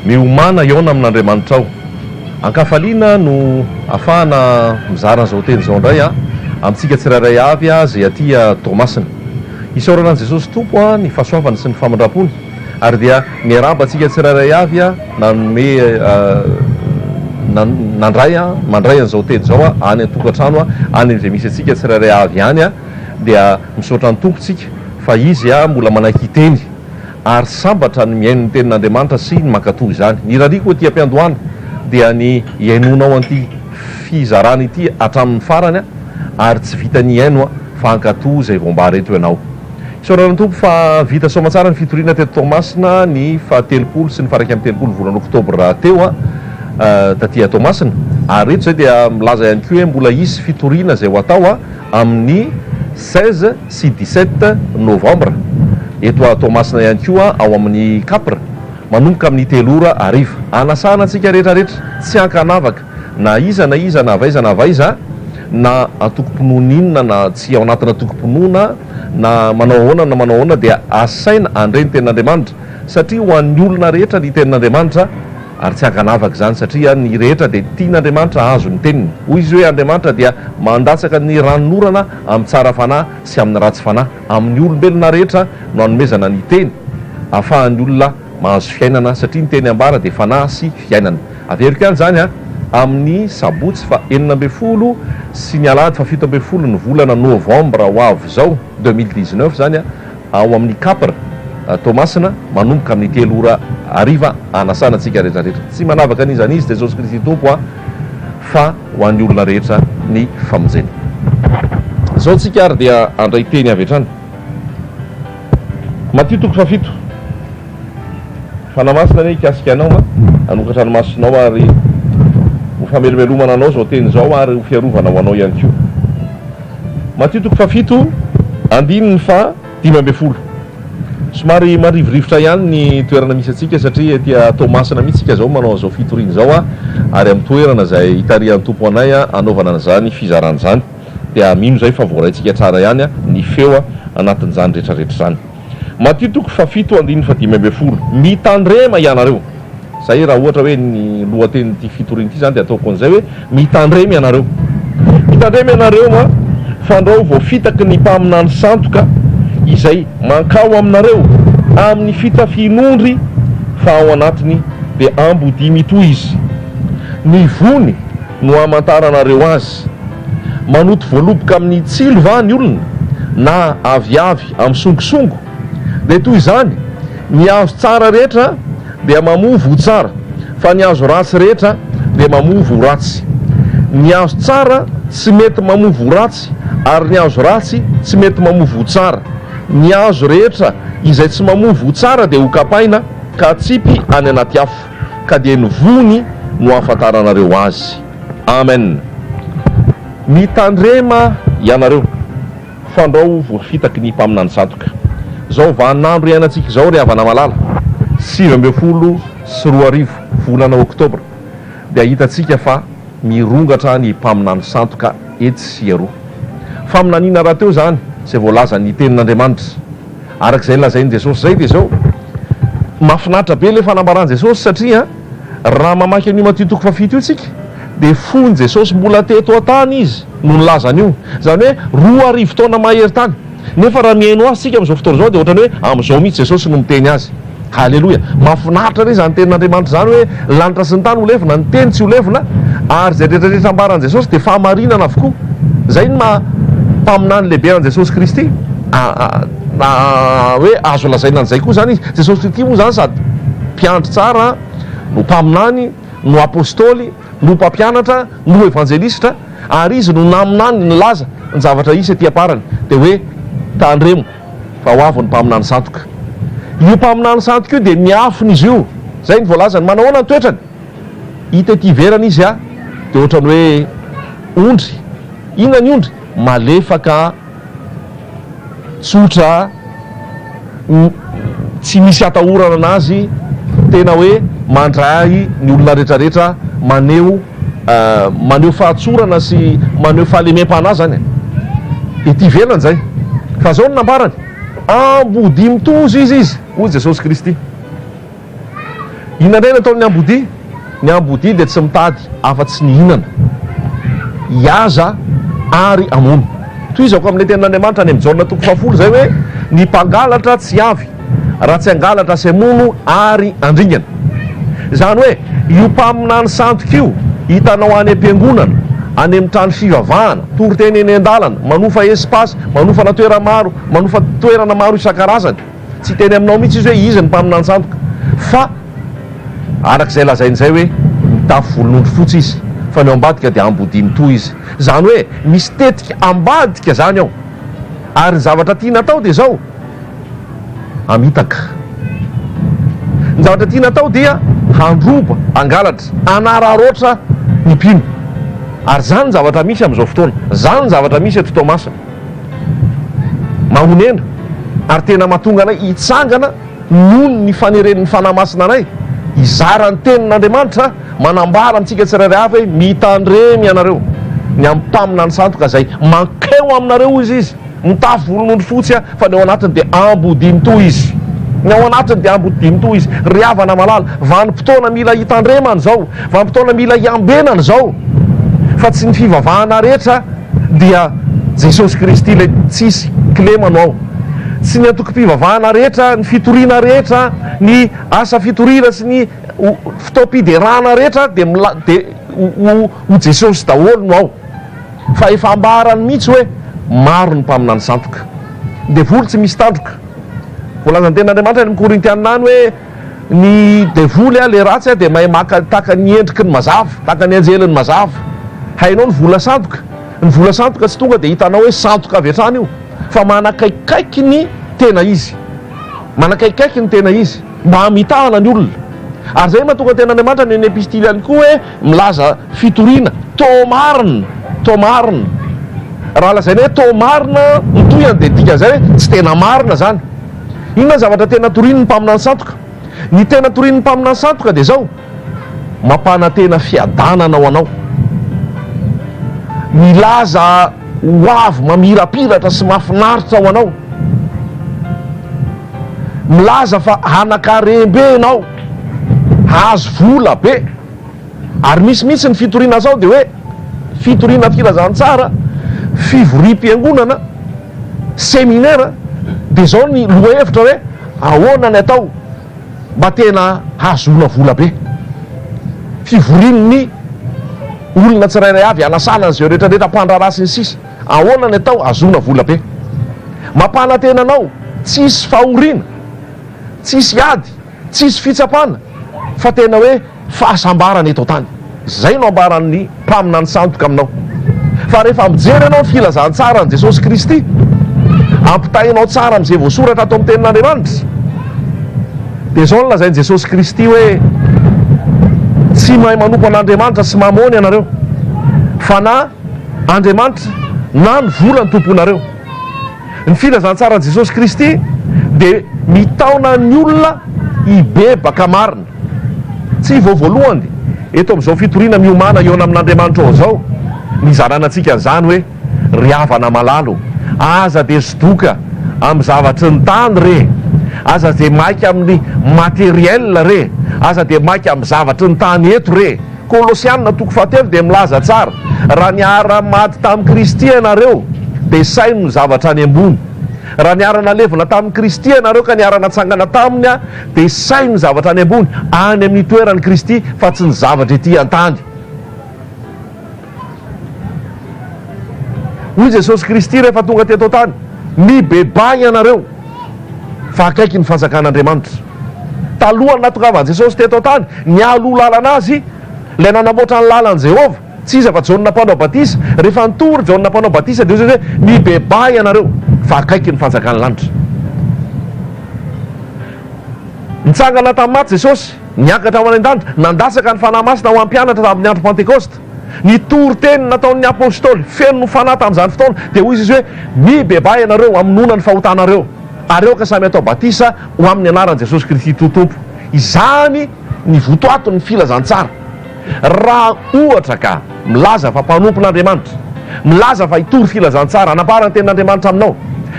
Miomàna hihaona amin'Andriamanitrao. An-kafaliana no afahana mizara an'izao teny izao indray amintsika tsirairay avy izay aty Toamasina. Isaorana an'i Jesosy Tompo ny fahasoavany sy ny famindrampony. Ary dia miarahaba antsika tsirairay avy nanome nandray mandray an'izao teny izao any an-tokantrano any amin'izay misy antsika tsirairay avy any dia misaotra ny Tompo isika fa Izy mbola manaiky hiteny ary sambatra ny mihaino ny tenin'Andriamanitra sy ny mankatò izany. Ny irariako aty am-piandohana dia ny hihainoanao an'ity fizarana ity hatramin'ny farany ary tsy vita ny hihaino fa hankatò izay voambara eto ianao. Isaorana ny Tompo fa vita soamatsara ny fitoriana teto Toamasina ny faha telopolo sy ny faha iraika amby telopolo volana oktobra teo taty Toamasina ary eto izay dia milaza ihany koa hoe mbola hisy fitoriana izay ho atao amin'ny seize sy dix sept novambra eto Toamasina ihany koa ao amin'ny Capr manomboka amin'ny telo ora hariva. Anasana antsika rehetra rehetra tsy ankanavaka na iza na iza na avaiza na avaiza na antokom-pinoana inona na tsy ao anatina antokom-pinoana Na manao ahoana na manao ahoana dia asaina handre ny tenin'Andriamanitra satria ho an'ny olona rehetra ny tenin'Andriamanitra ary tsy ankanavaka izany satria ny rehetra dia tian'Andriamanitra hahazo ny teniny. Hoy izy hoe Andriamanitra dia mandatsaka ny ranon'orana amin'ny tsara fanahy sy amin'ny ratsy fanahy amin'ny olombelona rehetra no anomezana ny teny afahan'ny olona Mahazo fiainana satria ny teny ambara dia fanahy sy fiainana. Averiko ihany izany a! Amin'ny sabotsy faha enina ambin'ny folo sy ny alahady faha fito ambin'ny folo ny volana novambra ho avy izao, deux mille dix neuf, izany a! ao amin'ny Capr Toamasina, manomboka amin'ny telo ora hariva, hanasana antsika rehetra rehetra. Tsy manavaka an'iza an'iza Jesosy Kristy Tompo a! fa ho an'ny olona rehetra ny famonjena. Izao tsika ary dia handray teny avy hatrany. Matio toko fahafito Fanahy Masina anie hikasika anao ma hanokatra ny masonao ary ho famelomelomana anao izao teny izao ary ho fiarovana ho anao ihany koa Matio toko fahafito andininy faha dimy ambin'ny folo Somary marivorivotra ihany ny toerana misy antsika satria aty Toamasina mihitsy isika izao manao an'izao fitoriana izao ary amin'ny toerana izay itarihan'ny Tompo anay hanaovana an'izany fizarana izany. dia mino izay fa voaraintsika tsara ihany ny feo anatin'izany retraretra izany. Matio toko fahafito andininy fahadimy ambin'ny folo, Mitandrema ianareo. Izay raha ohatra hoe ny lohatenin'ity fitoriana ity izany dia ataoko an'izay hoe mitandrema ianareo. Mitandrema ianareo an! Fandrao vao fitaky ny mpaminany sandoka izay mankao aminareo amin'ny fitafian'ondry fa ao anatiny dia ambodia mitohy izy. Ny vony no hamantaranareo azy. Malagasy. Manoto voaloboka amin'ny tsilo va ny olona na aviavy amin'ny songosongo? Dia toy izany, ny azo tsara rehetra dia mamovo ho tsara, fa ny azo ratsy rehetra dia mamovo ho ratsy. Ny azo tsara tsy mety mamovo ho ratsy ary ny azo ratsy tsy mety mamovo ho tsara. Ny azo rehetra izay tsy mamovo ho tsara dia hokapaina ka atsipy any anaty afo, ka dia ny voany no ahafantaranareo azy. Amen Mitandrema ianareo fandrao voafitaky ny mpaminany sandoka zao vaninandro iainantsika zao ry havana malala sivy ambin'ny folo sy roa arivo volana octobre dia hitantsika fa mirongatra ny mpaminany sandoka etsy sy eroa faminaniana rahateo zany zay voalazan'ny tenin'Andriamanitra arak'izay lazain'i Jesosy zay dia zao mafinaritra be le fanambaran'i Jesosy satria Raha mamaky an'io Matio toko fahafito io isika dia fony Jesosy mbola teto an-tany Izy no nilaza an'io. Izany hoe roa arivo taona mahery tany. Nefa raha mihaino Azy isika amin'izao fotoana izao dia ohatran'ny hoe amin'izao mihitsy Jesosy no miteny Azy. Haleloia! Mahafinaritra re izany tenin'Andriamanitra izany hoe lanitra sy ny tany ho levona, ny Teny tsy ho levona, ary izay rehetra rehetra ambaran'i Jesosy dia fahamarinana avokoa. Izay ny maha Mpaminany lehibe an'i Jesosy Kristy. Na hoe azo lazaina an'izay koa izany izy. Jesosy Kristy moa izany sady Mpiandry tsara, no Mpaminany, no Apostoly, no Mpampianatra, no Evanjelistra, ary Izy no naminany nilaza ny zavatra hisy ety am-parany, dia hoe, Tandremo, fa ho avy ny Mpaminany Sandoka. Io Mpaminany Sandoka io dia miafina izy io. Izay ny voalazany. Manao ahoana ny toetrany? Hita ety ivelany izy dia ohatran'ny hoe ondry. Inona ny ondry? Malefaka. Tsotra o! Tsy misy atahorana anazy, tena hoe mandray ny olona retraretra, maneho maneho fahatsorana sy maneho fahalemem-panahy zany e! Ety ivelany zay. Fa zao no nambarany, Ambodimintozo izy izy, hoy Jesosy Kristy. Inona indray no ataon'ny ambodia? Ny ambodia dia tsy mitady afa-tsy ny hihinana, hihaza ary hamono. Tohizako amin'ilay tenin'Andriamanitra any amin'ny Jaona toko fahafolo izay hoe, Ny mpangalatra tsy avy raha tsy hangalatra sy hamono ary handringana. Izany hoe, io mpaminany sandoka io hitanao any am-piangonana, any amin'ny trano fivavahana, toriteny eny an-dalana, manofa espace, manofana toera maro, manofa toerana maro isan-karazany. Tsy hiteny aminao mihitsy izy hoe iza ny mpaminanjandoka fa araka izay lazainy izay hoe mitafy volonondry fotsy izy fa ny ao ambadika dia ambodia mitohy izy. Izany hoe misy tetika ambadika izany ao ary ny zavatra tiana atao dia izao hamitaka. Ny zavatra tiana atao dia handroba, hangalatra, hanararaotra ny mpino ary izany ny zavatra misy amin'izao fotoana. Izany ny zavatra misy eto Toamasina. Mahonena ary tena mahatonga anay hitsangana noho ny faneren'ny Fanahy Masina anay hizara ny Tenin'Andriamanitra, manambara amintsika tsirairay avy hoe mitandrema ianareo ny amin'ny mpaminany sandoka izay mankeo aminareo, hoy izy. Izy mitafy volonondry fotsy fa ny ao anatiny dia ambodinto izy. Ny ao anatiny dia ambodinto izy. Ry havana malala, vanim-potoana mila hitandremana izao, vanim-potoana mila hiambenana izao fa tsy ny fivavahana rehetra. Dia Jesosy Kristy ilay tsisy kilema no ao. Tsy ny antokom-pivavahana rehetra, ny fitoriana rehetra, ny asa fitoriana sy ny fotoam-piderana rehetra dia dia ho Jesosy daholo no ao. Fa efa ambarany mihitsy hoe maro ny mpaminany sandoka. Ny devoly tsy misy tandroka. Voalazan'ny tenin'Andriamanitra any amin'ny Korintiana any hoe. Ny devoly a, le ratsy a, de mahay maka taka ny endriky ny mazava, taka ny anjeliny mazava. Hainao ny vola sandoka. Ny vola sandoka tsy tonga de hitanao hoe sandoka avy hatrany io, fa manakaikikaiky ny tena izy. Manakaikikaiky ny tena izy, mba hamitahana ny olona. Ary zay mahatonga tena Andriamanitra any amin'ny epistily any koa hoe milaza fitoriana, to marina, to marina. Raha lazaina hoe to marina, ny tohiny dia dikan'izay hoe tsy tena marina zany. Inona ny zavatra tena torian'ny mpaminany sandoka? Ny tena torian'ny mpaminany sandoka dia izao, mampanantena fiadanana ho anao, milaza hoavy mamirapiratra sy mahafinaritra ho anao, milaza fa hanankarem-be ianao, hahazo vola be. Ary misy mihitsy ny fitoriana sao dia hoe fitoriana filazantsara, fivoriam-piangonana, seminera, dia izao ny lohahevitra hoe ahoana ny atao mba tena hahazoana vola be. Fivorian'ny olona tsirairay avy hanasana an'izay rehetra rehetra mpandraharaha sy ny sisa. Ahoana ny atao hahazoana vola be. Mampanantena anao tsy hisy fahoriana, tsy hisy ady. Tsisy fitsapana fa tena hoe fahasambarana eto an-tany. Izay no ambaran'ny mpaminany sandoka aminao. Fa rehefa mijery ianao ny filazantsaran'i Jesosy Kristy, ampitahainao tsara amin'izay voasoratra ato amin'ny Tenin'Andriamanitra, dia izao no lazain'i Jesosy Kristy hoe, Tsy mahay manompo an'Andriamanitra sy Mamôny ianareo, fa na Andriamanitra na ny vola no tomponareo. Ny filazantsaran'i Jesosy Kristy dia mitaona ny olona hibebaka marina. Tsy vao voalohany, eto amin'izao fitoriana miomàna hihaona amin'Andriamanitra ao izao, ny hizarana antsika an'izany hoe, Ry havana malalo, aza dia sodoka amin'ny zavatry ny tany re, aza dia maika amin'ny matériel re, aza dia maika amin'ny zavatry ny tany eto re. Kolosiana toko fahatelo dia milaza tsara, Raha niara-maty tamin'i Kristy ianareo, dia saino ny zavatra any ambony. Raha niara-nalevina tamin'i Kristy ianareo ka niara-natsangana taminy, dia saino ny zavatra any ambony, any amin'ny toeran'i Kristy, fa tsy ny zavatra etỳ an-tany. Hoy Jesosy Kristy rehefa tonga teto an-tany, Mibebaha ianareo. fa akaiky ny fanjakan'Andriamanitra. Talohan'ny nahatongavan'i Jesosy teto an-tany, nialoha lalana azy ilay nanamboatra ny lalan'i Jehovah, tsy iza fa Jaona Mpanao Batisa. Rehefa nitory i Jaona Mpanao Batisa dia hoy izy hoe, Mibebaha ianareo, fa akaiky ny fanjakan'ny lanitra. Nitsangana tamin'ny maty Jesosy, niakatra ho any an-danitra, nandatsaka ny fanahy masina ho an'ny mpianatra tamin'ny andro Pantekosta. Ny toriteny nataon'ny apostoly feno fanahy tamin'izany fotoana dia hoy izy hoe, Mibebaha ianareo hamonoana ny fahotanareo, ary aoka samy hatao batisa ho amin'ny anaran'i Jesosy Kristy toa Tompo. Izany ny votoaton'ny filazantsara. Raha, ohatra, ka milaza fa mpanompon'Andriamanitra, milaza fa hitory filazantsara hanambara ny tenin'Andriamanitra aminao,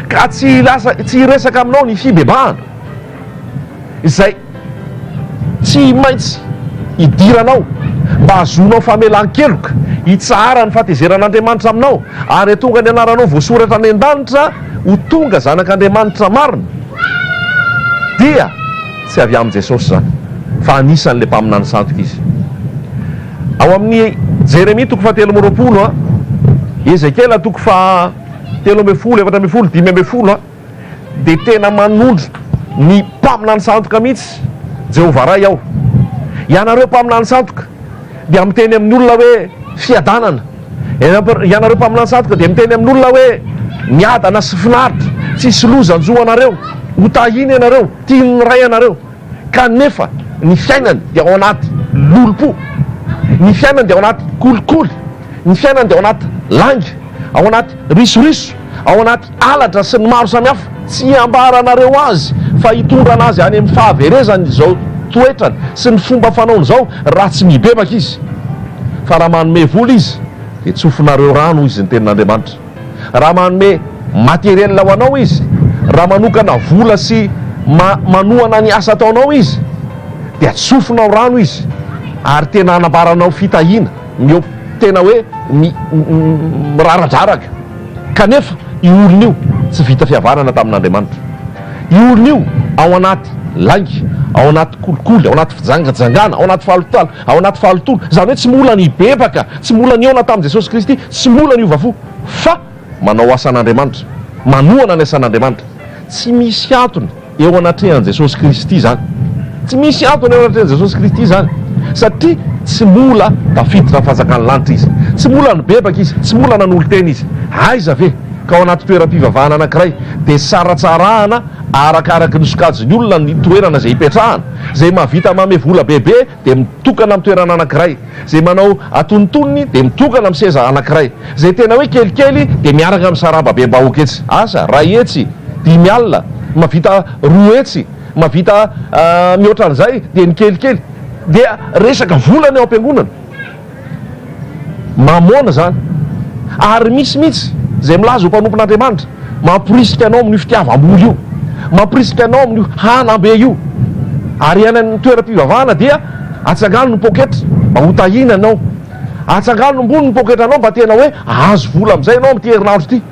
ka tsy hiresaka aminao ny fibebahana, izay tsy maintsy idiranao mba hahazoanao famelan-keloka, hitsahara ny fahatezeran'Andriamanitra aminao, ary hahatonga ny anaranao voasoratra any an-danitra ho tonga zanak'Andriamanitra marina, dia tsy avy amin'i Jesosy izany, fa anisan'ilay mpaminany sandoka izy. Ao amin'ny Jeremia toko fahatelo amby roapolo, Ezekiela toko fahatelo ambin'ny folo, efatra ambin'ny folo, dimy ambin'ny folo, Dia tena manondro ny mpaminany sandoka mihitsy Jehovah Ray ao. Ianareo mpaminany sandoka dia miteny amin'ny olona hoe fiadanana. Ianareo mpaminany sandoka dia miteny amin'olona hoe miadana sy finaritra, tsy hisy loza hanjo anareo, hotahina ianareo, tian'ny Ray anareo. kanefa ny fiainany dia ao anaty lolompo, ny fiainany dia ao anaty kolikoly, ny fiainany dia ao anaty lainga, ao anaty risoriso, ao anaty halatra sy ny maro samihafa. Tsy hambaranareo azy fa hitondra anazy any amin'ny fahaverezany izao toetrany sy ny fomba fanaony izao raha tsy mibebaka izy, fa raha manome vola izy dia tsofinareo rano, hoy izy, ny tenin'Andriamanitra. Raha manome matériel ho anao izy, raha manokana vola sy manohana ny asa ataonao izy dia tsofinao rano izy ary tena anambaranao fitahiana, tena hoe miraradraraka. Kanefa io olona io tsy vita fihavanana tamin'Andriamanitra. Io olona io ao anaty lainga, ao anaty kolikoly, ao anaty fijangajangana, ao anaty fahalotoana, ao anaty fahalotoana. Izany hoe tsy mola nibebaka, tsy mola nihaona tamin'i Jesosy Kristy. Tsy mora ny hiova fo, fa manao asan'Andriamanitra, manohana ny asan'Andriamanitra. Tsy misy antony eo anatrehan'i Jesosy Kristy izany. Tsy misy antony eo anatrehan'i Jesosy Kristy izany, satria tsy mola tafiditra ny fanjakan'ny lanitra Izy. Tsy mola nibebaka Izy, tsy mola nanolo-tena Izy. Aiza ve ka ao anaty toeram-pivavahana anankiray dia saratsarahana arakaraky ny sokajin'ny olona ny toerana izay hipetrahana, izay mahavita mame vola bebe dia mitokana amin'ny toerana anankiray, izay manao atonontonony dia mitokana amin'ny seza anankiray, izay tena hoe kelikely dia miaraka amin'ny sarababem-bahoaka etsy, asa, ray hetsy, dimy alina, mahavita roa hetsy, mahavita mihoatra an'izay dia ny kelikely dia resaka vola ny ao am-piangonana. Mamôna izany. Ary misy mihitsy izay milaza ho mpanompon'Andriamanitra, mamporisika anao amin'io fitiavam-bola io, mamporisika anao amin'io hanam-be io. Ary any amin'ny toeram-pivavahana dia atsangano ny pôketra mba ho tahiana anao. Atsangano ambony ny pôketranao mba tena hoe hahazo vola amin'izay ianao amin'ity herinandro ity.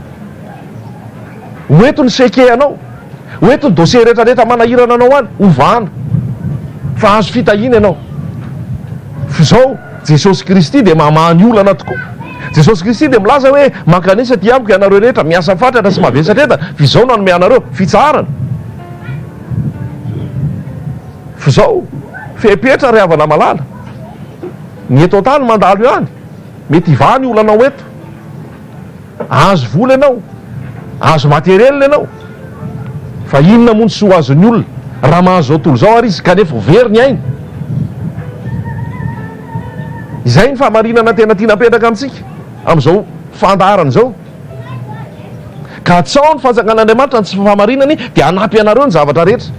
Ho eto ny seke anao. Ho eto ny dossier rehetra rehetra manahirana anao any hovahana fa azo fitahiana ianao f'izao Jesosy Kristy dia mamaha ny olana tokoa Jesosy Kristy dia milaza hoe mankanesa aty amiko ianareo rehetra miasa fatratra sy mavesatra entana f'izao nanome anareo fitsaharana f'izao fepetra ry havana malala ny eto antany mandalo ihany mety hivaha ny olanao eto Ahazo vola ianao, ahazo materiel ianao, fa inona moa ny soa azon'ny olona raha mahazo izao tontolo izao ary izy kanefa ho very ny ainy? Izay ny fahamarinana tena tiana apetraka amintsika amin'izao fandaharana izao. Katsaho ny fanjakan'Andriamanitra, ny tsy fahamarinany dia hanampy anareo ny zavatra rehetra.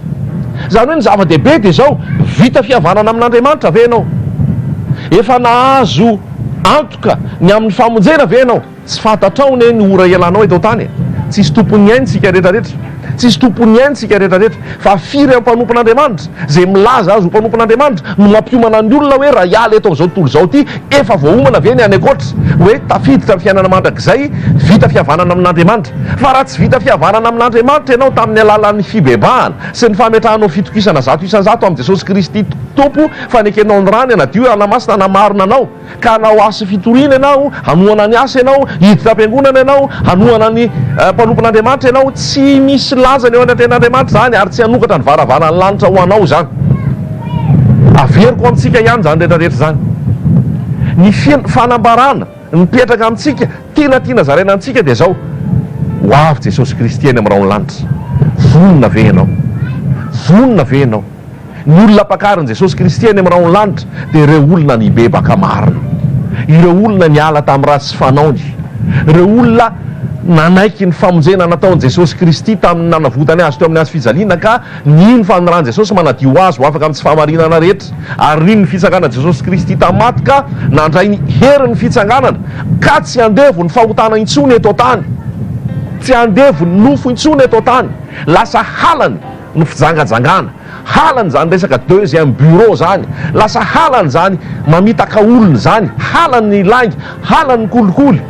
Izany hoe ny zava-dehibe dia izao, vita fihavanana amin'Andriamanitra ve ianao? Efa nahazo antoka ny amin'ny famonjena ve ianao? Tsy fantatrao anie ny ora hialanao eto an-tany e! Tsisy tompon'ny ainy isika rehetra rehetra. Tsisy tompon'ny ainy isika rehetra rehetra. Fa firy am mpanompon Andriamanitra izay milaza azy ho mpanompon Andriamanitra no mampiomana ny olona hoe raha hiala eto amin'izao tontolo izao ity efa voaomana ve ny any ankoatra hoe tafiditra ny fiainana mandrakizay vita fihavanana amin Andriamanitra fa raha tsy vita fihavanana amin Andriamanitra ianao tamin'ny alalan'ny fibebahana sy ny fametrahanao fitokisana zato isan zato amin'i Jesosy Kristy Tompo fa nekenao ny rany hanadio hanamasina hanamarina anao ka hanao asa fitoriana ianao, hanohana ny asa ianao, hiditra am-piangonana ianao, hanohana ny mpanompon'Andriamanitra ianao, tsy misy lajany eo anatrehan'Andriamanitra izany ary tsy hanokatra ny varavaran'ny lanitra ho anao izany. Averiko amintsika ihany izany rehetra rehetra izany. Ny fanambarana mipetraka amintsika Tena tiana zaraina amintsika dia izao, Ho avy Jesosy Kristy any amin'ny rahon'ny lanitra. Vonona ve ianao? Vonona ve ianao? Ny olona ampakarin'i Jesosy Kristy any amin'ny rahon'ny lanitra dia ireo olona nibebaka marina, ireo olona niala tamin'ny ratsy fanaony, ireo olona nanaiky ny famonjena nataon'i Jesosy Kristy tamin'ny nanavotany azy teo amin'ny hazo fijaliana ka Nino fa ny ran'i Jesosy manadio ho azy ho afaka amin'ny tsy fahamarinana rehetra, ary nino ny fitsanganan'i Jesosy Kristy tamin'ny maty ka nandray ny herin'ny fitsanganana, ka tsy handevon'ny fahotana intsony eto an-tany. Tsy handevon'ny nofo intsony eto an-tany. Lasa halany ny fijangajangana, halany izany resaka deuxième bureau izany, lasa halany izany mamitaka olona izany, halany ny lainga, halany ny kolikoly,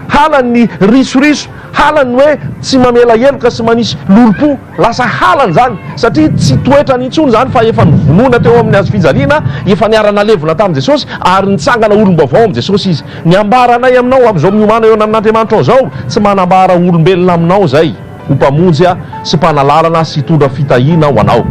halany ny risoriso, halany ny hoe tsy mamela heloka sy manisy lolompo. Lasa halany izany satria tsy toetrany intsony izany fa efa novonoina teo amin'ny hazo fijaliana efa niara-nalevona tamin'i Jesosy ary nitsangana olom-baovao amin'i Jesosy izy. Ny ambaranay aminao amin'izao miomana eo ananan'Andriamanitra ao izao, tsy manambara olombelona aminao izay ho mpamonjy ahy sy mpanalalana sy hitondra fitahiana ho anao.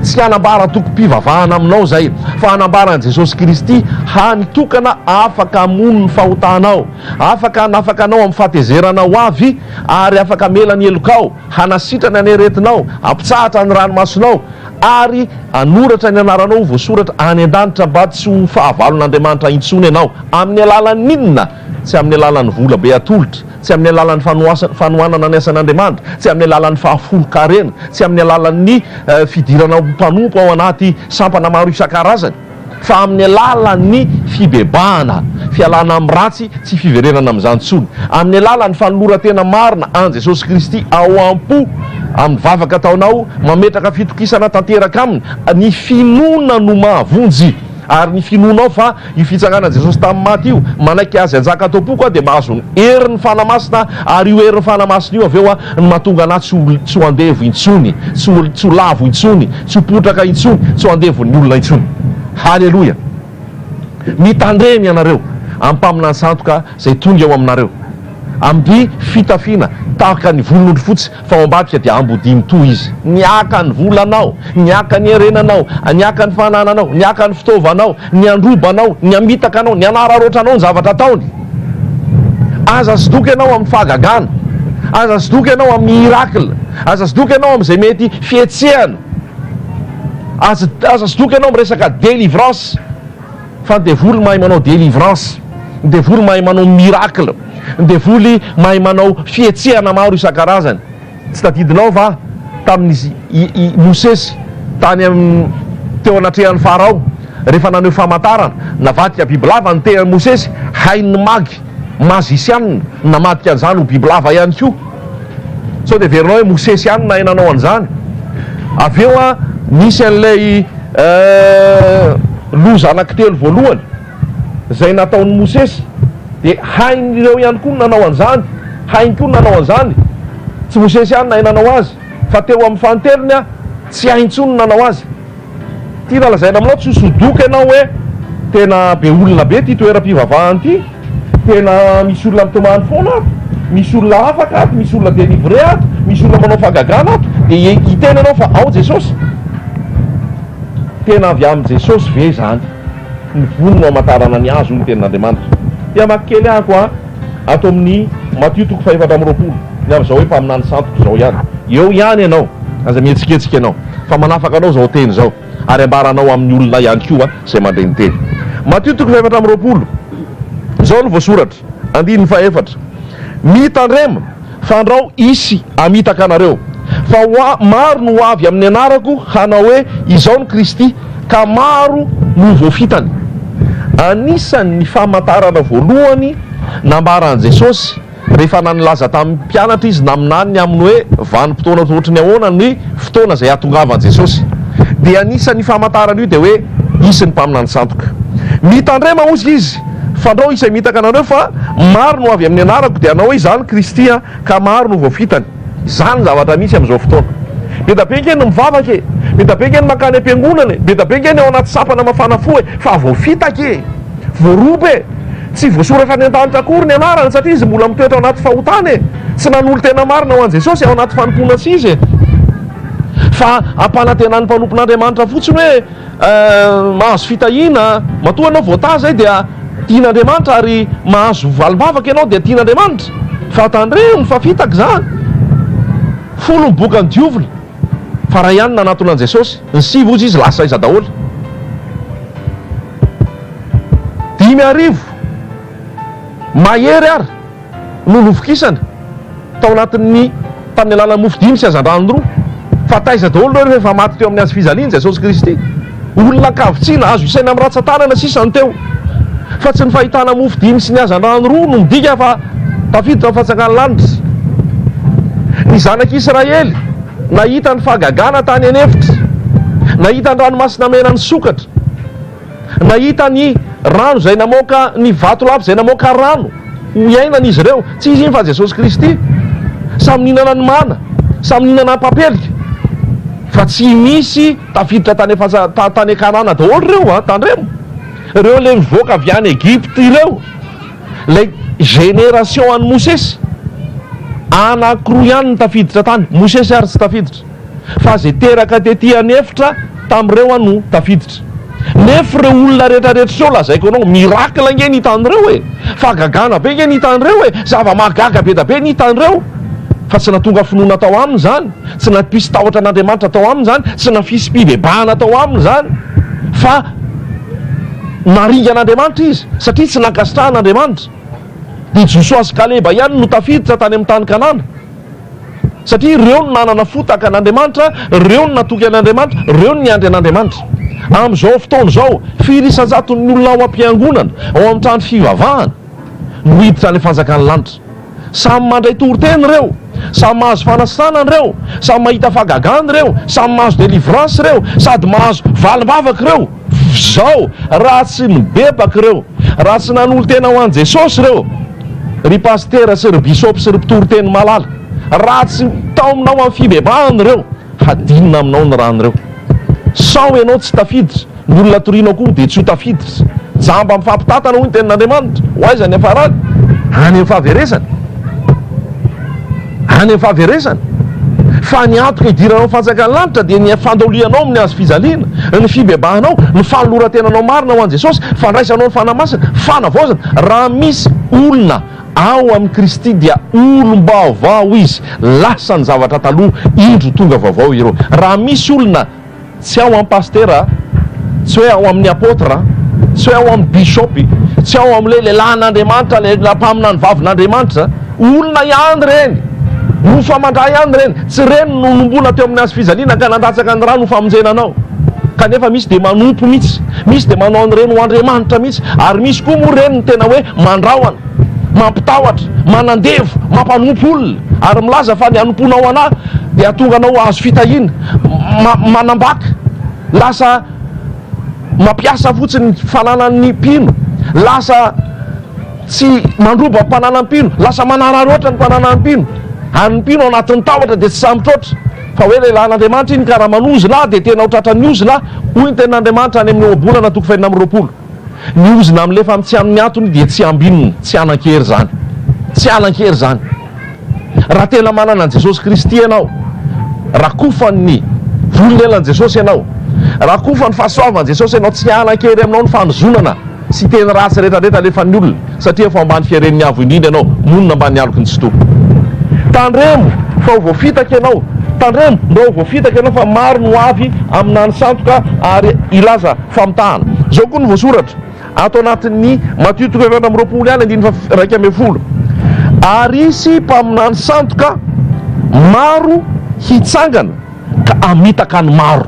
Tsy hanambara tokim-pivavahana aminao izay fa hanambara an'i Jesosy Kristy hany tokana afaka hamono ny fahotanao, afaka hanafaka anao amin'ny fahatezerana ho avy ary afaka hamela ny helokao. Hanasitrana ny aretinao, hampitsahatra ny ranomasonao, ary hanoratra ny anaranao ho voasoratra any an-danitra mba tsy ho fahavalon'Andriamanitra intsony ianao. Amin'ny alalan'inona? Tsy amin'ny alalan'ny vola be atolotra, tsy amin'ny alalan'ny fanohanana ny asan'Andriamanitra, tsy amin'ny alalan'ny fahafolon-karena, tsy amin'ny alalan'ny fidirana ho mpanompo ao anaty sampana maro isan-karazany, fa amin'ny alalan'ny fibebahana, fialana amin'ny ratsy, tsy fiverenana amin'izany intsony, amin'ny alalan'ny fanoloran-tena marina an'i Jesosy Kristy ao am-po, amin'ny vavaka ataonao, mametraka fitokisana tanteraka Aminy, ny finoana no mahavonjy, ary ny finoanao fa io fitsanganan'i Jesosy tamin'ny maty io, manaiky Azy hanjaka ato am-poko aho, dia mahazo ny herin'ny Fanahy Masina, ary io herin'ny Fanahy Masina io avy eo no mahatonga anà tsy ho andevo intsony, tsy ho lavo intsony, Tsy ho potraka intsony, tsy ho andevon'ny olona intsony. Haleloia! Mitandrema ianareo amin'ny mpaminany santo ka, izay tonga eo aminareo, amby fitafiana tahaka ny volon'ondry fotsy, fa ao ambadika dia ambodia mitoha izy. Niaka ny volanao, niaka ny herenanao, niaka ny fanananao, niaka ny fitaovanao, ny handroba anao, ny hamitaka anao, ny hanararoatra anao ny zavatra ataony. Aza sidoka ianao amin'ny fahagagana, aza sidoka ianao amin'ny miracle, aza sidoka ianao amin'izay mety fihetsehana, aza aza sidoka ianao amin'ny resaka délivrance, fa ny devoly mahay manao délivrance, ny devoly mahay manao miracle, ny devoly mahay manao fihetsehana maro isan-karazany. Tsy tadidinao va tamin' i Mosesy tany amin' teo anatrehan' Farao, rehefa naneho famantarana, navadika bibilava ny tenan' i Mosesy, hain' ny magy, mazisianina, namadika an' izany ho bibilava ihany koa? Sao dia heverinao hoe Mosesy ihany no nahay nanao an' izany? Avy eo an, nisy an' ilay loza anankitelo voalohany. Izay nataon'i Mosesy, dia hain'ireo ihany koa ny nanao an'izany, hainy koa ny nanao an'izany. Tsy Mosesy ihany nahay nanao azy, fa teo amin'ny fanintelony an, tsy hainy intsony ny nanao azy. Tiana lazaina aminao tsy hosodoka ianao hoe tena be olona be ity toeram-pivavahana ity, tena misy olona mitomany foana ato, misy olona afaka ato, misy olona délivré ato, misy olona manao fahagagana ato, dia hiteny ianao fa ao Jesosy? Tena avy amin'i Jesosy ve izany? Ny voly no hamantarana ny azy, hoy ny Tenin'Andriamanitra. Te hamaky kely aho koa ato amin'ny Matio toko fahefatra amby roapolo, ny amin'izao hoe mpaminany santoko izao ihany. Eo ihany ianao, aza mihetsiketsika ianao, fa manafaka anao izao teny izao, ary ambaranao amin'ny olona ihany koa izay mandre ny teny. Matio toko fahefatra amby roapolo, izao no voasoratra. Andininy fahefatra, Mitandrema, fandrao hisy hamitaka anareo, fa maro no ho avy amin'ny anarako hanao hoe, Izao no Kristy, ka maro no ho voafitany. Anisan' ny famantarana voalohany nambaran'i Jesosy rehefa nanilaza tamin'ny mpianatra Izy naminany ny amin'ny hoe vanim-potoana ohatry ny ahoana ny fotoana izay hahatongavan'i Jesosy, dia anisan' io famantarana io dia hoe, Hisy ny mpaminany sandoka. Mitandrema, hozy Izy, Fandrao izay mitaka anareo fa maro no avy amin'ny anarako, dia hanao hoe izany Kristy an, ka maro no voafitany. Izany ny zavatra misy amin'izao fotoana. Be da be ange ny mivavaka e! Be da be ange ny mankany am-piangonana e! Be da be ange ny ao anaty sampana mafana fo e! Fa voafitaka e! Voaroba e! Tsy voasoratra any an-danitra akory ny anarany satria izy mbola mitoetra ao anaty fahotana e! Tsy nanolo-tena marina ho an'i Jesosy ao anaty fanompoana tsy izy e! Fa ampanantenan'ny mpanompon'Andriamanitra fotsiny hoe. Mahazo fitahiana, matoa ianao voatahy izay dia tian'Andriamanitra ary mahazo valim-bavaka ianao dia tian'Andriamanitra fa tandremo fa fitaka izany, folo ny bokan'ny diovina fa iray ihany no nanatona an'i Jesosy, ny sivy hozy izy lasa aiza daholo? Dimy arivo mahery ary. no novokisana tao anatin'ny tamin'ny alalan'ny mofo dimy sy hazandrano roa, fa taiza daholo ireo rehefa efa maty teo amin'ny hazo fijaliany Jesosy Kristy? Olona ankavitsiana, azo isaina amin'ny ratsan-tanana sisa no teo. Fa tsy ny fahitana mofo dimy sy ny hazandrano roa no midika fa tafiditra ny Fanjakan'ny lanitra. Ny zanak'i Israely nahita ny fahagagana tany an'efitra, nahita ny Ranomasina Mena nisokatra, Nahita ny rano izay namoaka ny vatolampy izay namoaka rano ho iainana izy ireo. Tsy izy iny fa Jesosy Kristy. Samy nihinana ny mana, samy nihinana papelika. Fa tsy misy tafiditra tany afasa tany Kanana daholo ireo an, tandremo. Ireo ilay nivoaka avy any Egypte ireo, ilay génération an'i Mosesy. Anankiroa ihany no tafiditra tany, Mosesy ary tsy tafiditra. fa zay teraka tety an efitra tam reo an no tafiditra nef reo olona retra retra seo lazaiko anao miracle nge ny itan reo e fa gagana be nge ny itan reo e zava mahagaga be da be ny itan reo fa tsy natonga finoana tao aminy zany tsy napisy tahotra an Andriamanitra tao aminy zany tsy nafisy pibebahana tao aminy zany fa naringa an Andriamanitra izy satria tsy nankasitrahana Andriamanitra de Josoa sy Kaleba ihany no tafiditra tany am tany Kanana Satria ireo no nanana fo tahaka an'Andriamanitra, ireo no natoky an'Andriamanitra, ireo no niandry an'Andriamanitra. Amin'izao fotoana izao, firy isan-jaton'ny olona ao am-piangonana, ao amin'ny trano fivavahana, no hiditra any fanjakan'ny lanitra? Samy mandray toriteny ireo, samy mahazo fanasana ireo, samy mahita fahagagana ireo, samy mahazo délivrance ireo, sady mahazo valim-bavaka ireo. Zao raha tsy nibebaka ireo, raha tsy nanolo-tena ho an'i Jesosy ireo ry Pasitera sy ry Bisôpy sy ry Mpitoriteny malala, raha tsy mitaomina ho amin'ny fibebahana ireo, hadinina aminao ny rano ireo. Sao ianao tsy tafiditra, ny olona torianao koa dia tsy ho tafiditra. Jamba mifampitantana hoy ny tenin'Andriamanitra. Ho aiza ny hiafarany? Any amin'ny fahaverezany. Any amin'ny fahaverezana. Fa ny antoka hidiranao ny fanjakan'ny lanitra dia ny fandolianao amin'ny hazo fijaliana, ny fibebahanao, ny fanoloran-tenanao marina ho an'i Jesosy, fandraisanao ny Fanahy Masina, fanavaozana. Raha misy olona ao amin'i Kristy dia olom-baovao izy, lasa ny zavatra taloha, indro tonga vaovao ireo. Raha misy olona Tsy ao amin'ny pasitera a! Tsy hoe ao amin'ny apôtre a! Tsy hoe ao amin'ny bishopy! Tsy ao amin'ilay lehilahin'Andriamanitra, ilay mpaminany vavin'Andriamanitra! Olona ihany ireny! Mofo aman-dra ihany ireny! Tsy ireny no nomboana teo amin'ny hazo fijaliana ka nandatsaka ny ra no famonjena anao! Kanefa misy dia manompo mihitsy! Misy dia manao an'ireny ho andriamanitra mihitsy! Ary misy koa moa ireny no tena hoe mandrahona! mampitahotra, manandevo, mampanompo olona, ary milaza fa ny hanompoanao anà dia hahatonga anao hahazo fitahiana, manambaka, lasa mampiasa fotsiny ny fananan'ny mpino, lasa tsy mandroba ny mpananan'ny mpino, lasa manararoatra ny mpananan'ny mpino, ary ny mpino ao anatin'ny tahotra dia tsy sahy mitroatra, fa hoe lehilahin'Andriamanitra iny ka raha manozona ahy dia tena ho tratran'ny ozona aho, hoy ny tenin'Andriamanitra any amin'ny Ohabolana toko fahenina amby roapolo. Ny ozona milefa amin'ny tsy amin'ny antony dia tsy ambinina, tsy hanan-kery izany. Tsy hanan-kery izany. Raha tena manana an'i Jesosy Kristy ianao, rakofan'ny volonelan'i Jesosy ianao, rakofan'ny fahasoavan'i Jesosy ianao, tsy hanan-kery aminao ny fanozonana sy teny ratsy rehetrarehetra alefan'ny olona, satria efa ao ambany fiaren'ny Avo Indrindra ianao, monina ambanin'ny aloky ny Tsitoha. Tandremo fa ho voafitaka ianao, tandremo mba ho voafitaka ianao fa maro no avy aminà nisandoka ary hilaza Famitahana. Izao koa no voasoratra ato anatin'ny Matio toko efatra amby roapolo ihany andininy faha-iraika ambin'ny folo, Ary hisy mpaminany sandoka maro hitsangana ka hamitaka ny maro.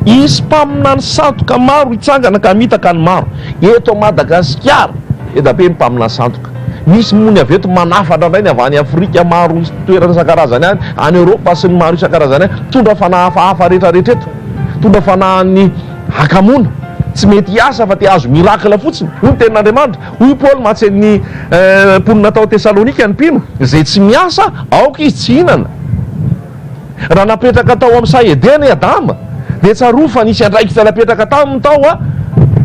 Hisy mpaminany sandoka maro hitsangana ka hamitaka ny maro. Eto Madagasikara, be da be ny mpaminany sandoka. Misy moa ny avy eto manafatra indray ny avy any Afrika maro toerana isan-karazany any, any Eoropa sy ny maro isan-karazany any, mitondra fanahafahafa rehetrarehetra eto. Mpitondra fanahin'ny hakamoana tsy mety hiasa afa-tsy hahazo miracle fotsiny, hoy ny tenin'Andriamanitra. Hoy i Paoly mahatsy ny mponina tao Tesalonika, Ny mpino izay tsy miasa, aoka izy tsy hihinana. Raha napetraka tao amin'ny saha Edena i Adama, dia tsarovy fa nisy andraikitra napetraka taminy tao, a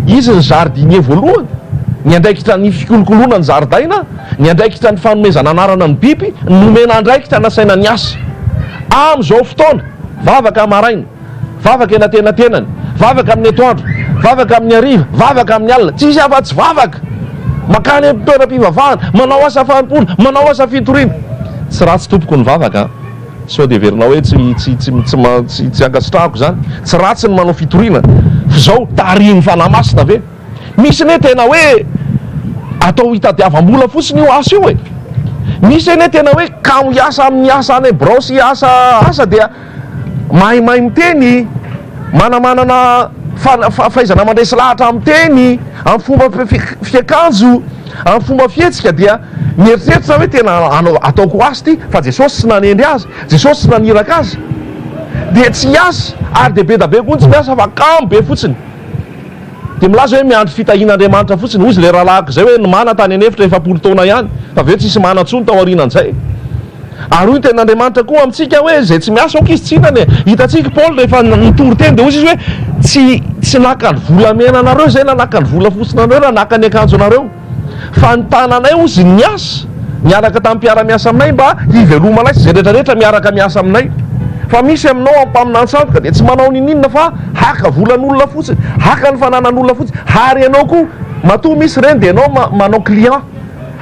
Izy ny jardinier voalohany, ny andraikitra ny fikolokoloana ny zaridaina, ny andraikitra ny fanomezana anarana ny biby, nomena andraikitra nasaina niasa. Amin'izao fotoana. Vavaka maraina, vavaka eny antenantenany, vavaka amin'ny atoandro, vavaka amin'ny hariva, vavaka amin'ny alina, tsy misy afa-tsy vavaka. Mankany amin'ny toeram-pivavahana, manao asa fanompoana, manao asa fitoriana. Tsy ratsy tompoko ny vavaka an! Sao dia heverinao hoe tsy, tsy, tsy, tsy, tsy, tsy ankasitrahako izany? Tsy ratsy ny manao fitoriana. F'izao, tarihin'ny Fanahy Masina ve? Misy anie tena hoe atao hitadiavam-bola fotsiny io asa io e! Misy anie tena hoe kamo hiasa amin'ny asa any birao sy asa asa dia maimay miteny, manamanana fahaizana mandresy lahatra amin'ny teny, amin'ny fomba fiakanjo, amin'ny fomba fihetsika dia mieritreritra hoe tena ataoko ho asa ity fa Jesosy tsy nanendry azy, Jesosy tsy naniraka azy dia tsy hiasa ary dia be da be koa ny tsy miasa fa kamo be fotsiny. Dia milaza hoe miandry fitahian'Andriamanitra fotsiny. Hozy ilay rahalahiko izay hoe nomana tany an'efitra efapolo taona ihany, fa avy eo tsisy mana intsony tao aorianan'izay. Ary hoy ny tenin'Andriamanitra koa amintsika hoe izay tsy miasa aoka izy tsy hihinana e! Hitantsika i Paoly rehefa nitory teny dia hozy izy hoe tsy, tsy naka ny volamena anareo izay na naka ny volafotsiny anareo na naka ny akanjo anareo. Fa ny tananay hozy niasa niaraka tamin'ny mpiara-miasa aminay mba hivelomanay sy izay rehetra rehetra miaraka miasa aminay. Fa misy aminao aho mpaminany sandoka dia tsy manao niniana fa haka volan'olona fotsiny, haka ny fananan'olona fotsiny. Ary ianao koa matoa misy ireny dia ianao manao client.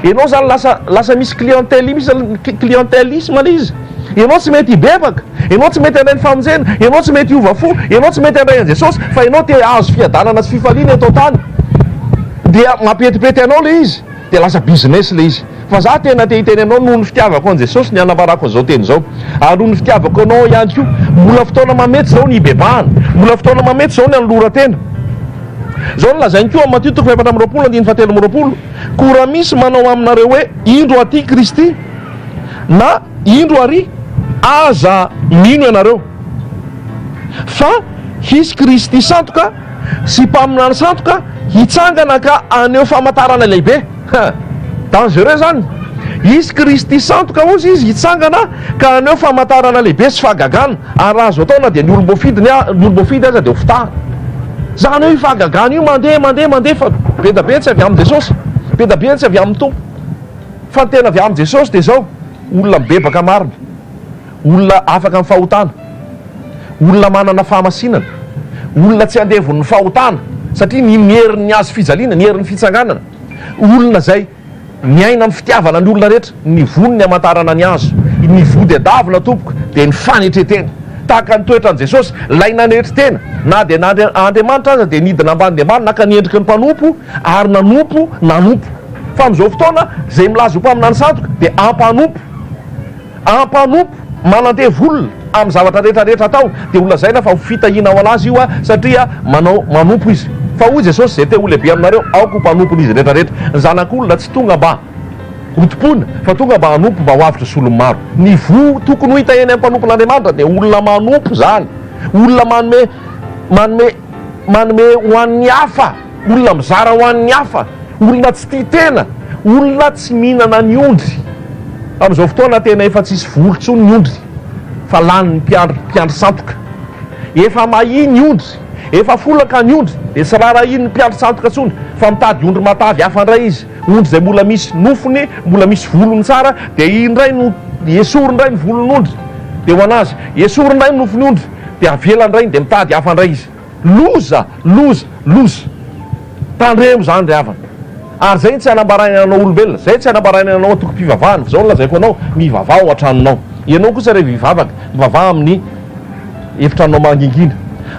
Ianao izany lasa lasa misy clientèle misy clientèlisme ilay izy. Ianao tsy mety hibebaka. Ianao tsy mety handray ny famonjena, ianao tsy mety hiova fo, ianao tsy mety handray an'i Jesosy, fa ianao te hahazo fiadanana sy fifaliana eto an-tany. Dia mampihetimpety anao ilay izy, dia lasa business ilay izy. Fa za tena te hiteny anao, noho ny fitiavako an'i Jesosy no ianavarako an'izao teny izao. Ary noho ny fitiavako anao ihany koa. Mbola fotoana mamety izao ny hibebahana. Mbola fotoana mamety izao ny hanoloran-tena. Izao no lazain'i koa amin'ny Matio toko fahefatra amby roapolo andininy fahatelo amby roapolo, Koa raha misy manao aminareo hoe, Indro aty Kristy, na indro ary aza mino ianareo fa hisy Kristy sandoka sy mpaminany sandoka hitsangana ka haneho famantarana lehibe. Hein! Dangereux izany. Hisy Kristy sandoka hozy izy hitsangana ka haneho famantarana lehibe sy fahagagana ary raha azo atao na dia ny olom-boafidy ny olom-boafidy aza dia ho fitahana. Izany hoe io fahagagana io mandeha mandeha mandeha fa be da be ny tsy avy amin'i Jesosy, be da be ny tsy avy amin'ny Tompo. Fa ny tena avy amin'i Jesosy dia izao, olona mibebaka marina, olona afaka amin'ny fahotana, olona manana fahamasinana, olona tsy andevon'ny fahotana satria ny ny herin'ny hazo fijaliana, ny herin'ny fitsanganana, olona izay miaina amin'ny fitiavana ny olona rehetra, ny voany ny hamantarana ny hazo, ny voa dia davina tompoko dia ny fanetren-tena, tahaka ny toetran'i Jesosy, ilay nanetry tena na dia na Andriamanitra aza dia nidina ambany dia ambany naka ny endriky ny mpanompo, Ary nanompo, nanompo. Fa amin'izao fotoana, izay milaza ho mpaminany sandoka dia ampanompo. Ampanompo, manandevo olona amin'ny zavatra rehetra rehetra ataony. Dia ho lazaina fa ho fitahiana ho an'azy io aho, satria manao, manompo izy. Fa hoy Jesosy, izay te ho lehibe aminareo, aoka ho mpanompon'izy rehetra rehetra. Ny Zanak'olona tsy tonga mba hotompoina, fa tonga mba hanompo, mba ho avotra solon'ny maro. Ny voa tokony ho hita eny amin'ny mpanompon'Andriamanitra dia olona manompo izany. Olona manome, manome, manome ho an'ny hafa. olona mizara ho an'ny hafa, olona tsy tia tena, olona tsy mihinana ny ondry. Amin'izao fotoana tena efa tsisy voly intsony ny ondry fa lanin'ny mpiandry mpiandry sandoka. Efa mahia ny ondry, efa folaka ny ondry dia tsy raharahian'ny mpiandry sandoka intsony fa mitady ondry matavy hafa indray izy, ondry izay mbola misy nofony, mbola misy volony tsara dia iny indray no esory indray ny volon'ondry dia ho an'azy, esory indray ny nofon'ondry dia avela indray dia mitady hafa indray izy. Loza! Loza! Loza! Tandremo zany ry havana. Ary zay tsy anambarainy anao olombelona, zay tsy anambarainy anao antokom-pivavahana, fa zao no lazaiko anao, mivavaha ao an-tranonao. Ianao kosa rehefa hivavaka, mivavaha amin'ny efitranonao mangingina.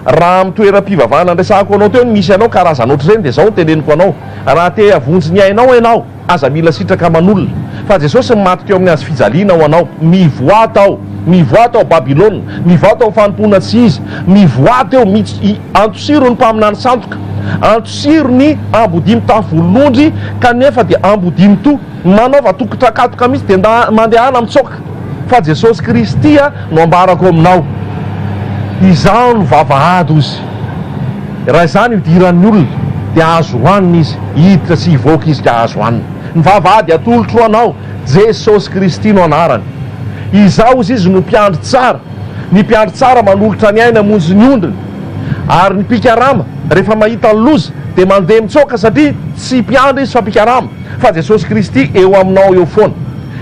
Raha amin'ny toeram-pivavahana andresahako anao teo no misy anao, karazana ohatr'ireny, dia zao no teneniko anao, raha te-havonjy ny ainao ianao, Aza mila sitraka aman'olona, fa Jesosy no maty teo amin'ny hazo fijaliana ho anao. Mivoaha tao! Mivoaha tao Babylona! Mivoaha tao ny fanompoana tsy Izy! Mivoaha teo mits y! Antosiro ny mpaminany sandoka! Antosiro ny ambodia mitafy volon'ondry kanefa dia ambodia mitoha! Manaova tokon-trakatoka mits dia nda mandehana mitsoaka! Fa Jesosy Kristy no ambarako aminao. Izaho no vavahady, hoy Izy. Raha izany idiran'ny olona, dia azo hohanina izy, hiditra sy hivoaka izy ka azo hanina. Ny vavahady atolotro ho anao, Jesosy Kristy no anarany. Izaho, hozy Izy, no mpiandry tsara. Ny mpiandry tsara manolotra ny ainy hamonjy ny ondriny. Ary ny mpikarama, rehefa mahita ny loza, dia mandeha mitsoaka, satria tsy mpiandry izy fa mpikarama. fa Jesosy Kristy eo aminao eo foana.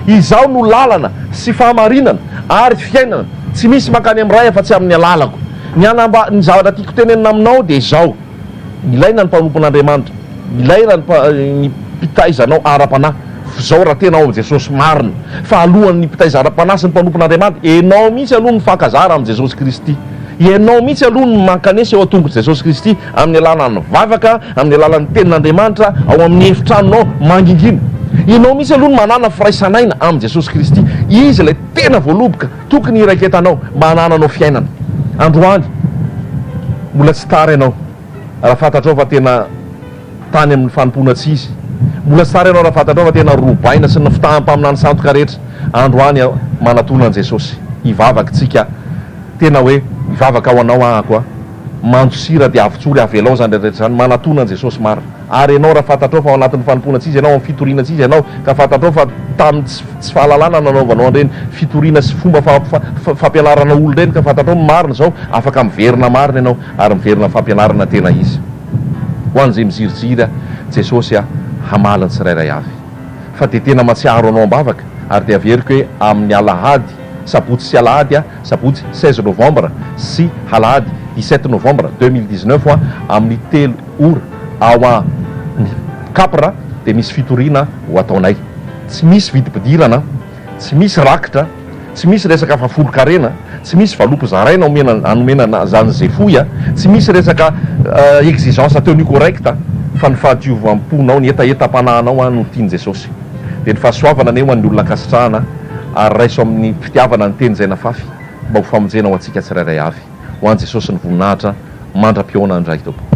Izaho no lalana sy fahamarinana ary fiainana, tsy misy mankany amin'ny Ray afa-tsy amin'ny alalako. Ny hanamba, ny zavatra tiako tenenina aminao dia izao, ilaina ny mpanompon'Andriamanitra, ilaina ny mpa, ny mpitaiza anao ara-panahy, f'izao raha tena ao amin'i Jesosy marina, fa alohan'ny mpitaiza ara-panahy sy ny mpanompon'Andriamanitra, ianao mihitsy aloha no mifankazara amin'i Jesosy Kristy, ianao mihitsy aloha no mankanesa eo an-tongotr'i Jesosy Kristy, Amin'ny alalan'ny vavaka, amin'ny alalan'ny Tenin'Andriamanitra ao amin'ny efitranonao mangingina. Ianao mihitsy aloha no manàna firaisan'aina amin'i Jesosy Kristy. Izy ilay tena voaloboka tokony hiraiketanao mba hanananao fiainana. Androany, mbola tsy tara ianao raha fantatrao fa tena tany amin'ny fanompoana tsy izy. Mbola tsy tara ianao raha fantatrao fa tena robaina sy ny fitahan'ny mpaminany sandoka rehetra. Androany, manatona an'i Jesosy hivavaka tsika tena hoe, Mivavaka ho anao ahako a. Mando sira dia avotsory avelao izany rehetra rehetra izany manatona an'i Jesosy marina ary ianao raha fantatrao fa ao anatin'ny fanompoana tsy izy ianao ao amin'ny fitoriana tsy izy ianao ka fantatrao fa tamin'ny tsy tsy fahalalana nanaovanao an'ireny fitoriana sy fomba fa fa fampianaranao olona ireny ka fantatrao ny marina izao afaka miverina marina ianao ary miverina fampianarana tena izy ho an'izay miziriziry ahy Jesosy aho hamaly ny tsirairay avy fa dia tena matsiaro anao am-bavaka ary dia averiko hoe amin'ny alahady Sabotsy sy Alahady a, Sabotsy seize novembre sy Alahady dix-sept novembre deux mille dix-neuf a, amin'ny telo ora ao amin'ny Capr dia misy fitoriana ho ataonay. Tsy misy vidim-pidirana, tsy misy rakitra, tsy misy resaka fa folon-karena, tsy misy valopy zaraina omena anomena an'izany izay fohy a, tsy misy resaka exigence tenue correcte fa ny fahadiovam-ponao, ny hetahetam-panahinao no tian'i Jesosy. Dia ny fahasoavana anie ho an'ny olona ankasitrahana ary raiso amin'ny fitiavana ny teny izay nafafy mba ho famonjena ho antsika tsirairay avy. Ho an'i Jesosy ny voninahitra mandra-pihaona ny Ray Tompo.